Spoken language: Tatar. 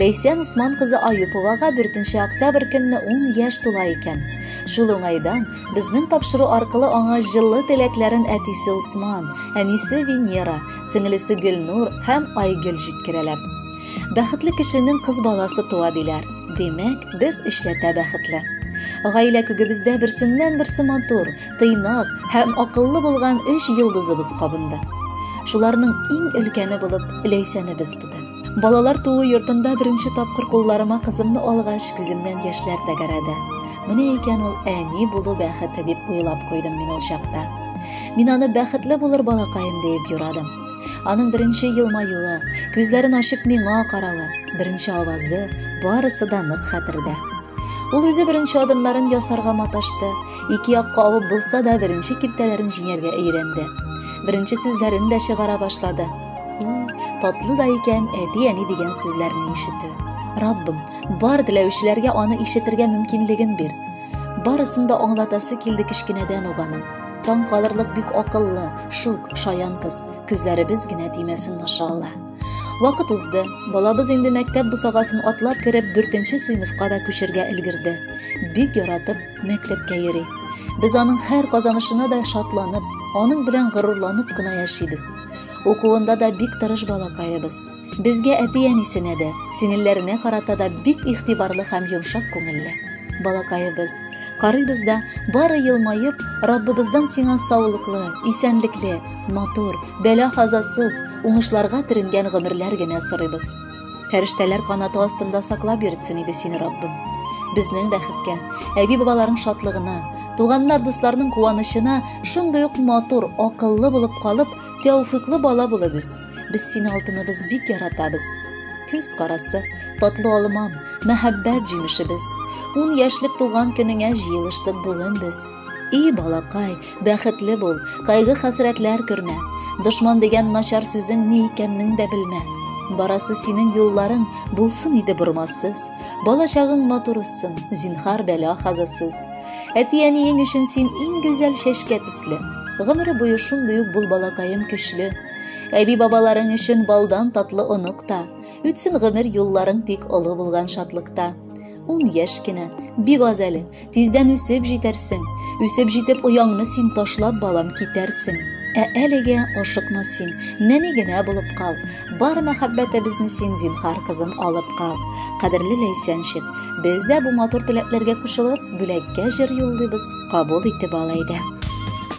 Ләйсән Усман кызы Аюповага 4 октябрь көнне 10 яшь тула икән. Шул уңайдан безнең тапшыру аркылы аңа җылы теләкләрен әтисе Усман, әнисе Венера, сеңлесе Гөлнур һәм Айгөл җиткерәләр. Бәхетле кешенең кыз баласы туа диләр. Димәк, без эшләтә бәхетле. Гаилә күгебездә берсеннән-берсе матур, тыйнак һәм акыллы булган өч йолдызыбыз кабынды. Шуларның иң өлкәне булып Ләйсәнебез туды. Балалар туу йортында беренче тапкыр кулларыма кызымны алгач, күземнән яшьләр тәгәрәде. Менә икән ул әни булу бәхете дип уйлап куйдым мин ул чакта. Мин аны бәхетле булыр балакаем диеп юрадым. Аның беренче елмаюы, күзләрен ачып миңа каравы, беренче авазы, барысы да нык хәтердә. Ул үзе беренче адымнарын ясарга маташты, ике якка авып булса да беренче киртәләрен җиңәргә өйрәнде. Беренче сүзләрен дә чыгара башлады. И, татлы да икән әти-әни дигән сүзләрне ишетү. Раббым, бар теләүчеләргә аны ишетергә мөмкинлеген бир. Барысын да аңлатасы килде кечкенәдән үк аның. Таң калырлык бик акыллы, шук, шаян кыз. Күзләребез генә тимәсен, машалла. Вакыт узды. Балабыз инде мәктәп бусагасын атлап кереп, 4нче сыйныфка да күчергә өлгерде. Бик яратып мәктәпкә йөри. Без аның һәр казанышына да шатланып, аның белән горурланып кына яшибез. Укуында да бик тырыш балакаебыз. Безгә әти-әнисенә дә, сеңелләренә карата да бик игътибарлы һәм йомшак күңелле. Балакаебыз, карыйбыз да, бары елмаеп, Раббыбыздан сиңа саулыклы, исәнлекле, матур, бәла-казасыз, уңышларга төренгән гомерләр генә сорыйбыз. Фәрештәләр канаты астында саклап йөртсен иде сине Раббым. Безнең бәхеткә, әби-бабаларың шатлыгына, туганнар дусларның куанычына шундый ук матур, акыллы булып калып, тәүфиклы бала булып үс. Без сине алтыныбыз бик яратабыз. Күз карасы, татлы алмам, мәхәббәт җимешебез. Ун яшьлек туган көнеңә җыелыштык бүген без. И балакай, бәхетле бул, кайгы-хәсрәтләр көрмә. Дошман дигән начар сүзең ни икәннең дә белмә. Барасы синең юлларың булсын иде бормассыз. Балачагың матур уссын, зинхар бәла хазасыз. Әти-әниең өчен син иң гүзәл чәчкә төсле. Гомере буе шундый ук бул балакаем көчле. Әби-бабаларың өчен балдан татлы онык та. Үтсен гомер юлларың тик олы булган шатлыкта. Ун яшь кенә, бик аз әле, тиздән үсеп җитәрсең. Үсеп җитеп ояңны син ташлап, балам, китәрсең. Ә әлегә ашыкма син, нәни генә булып кал. Бар мәхәббәтебезне син, зинхар, кызым, алып кал. Кадерле Ләйсәнчик, без дә бу матур теләкләргә кушылып, бүләккә җыр юллыйбыз, кабул итеп ал әйдә.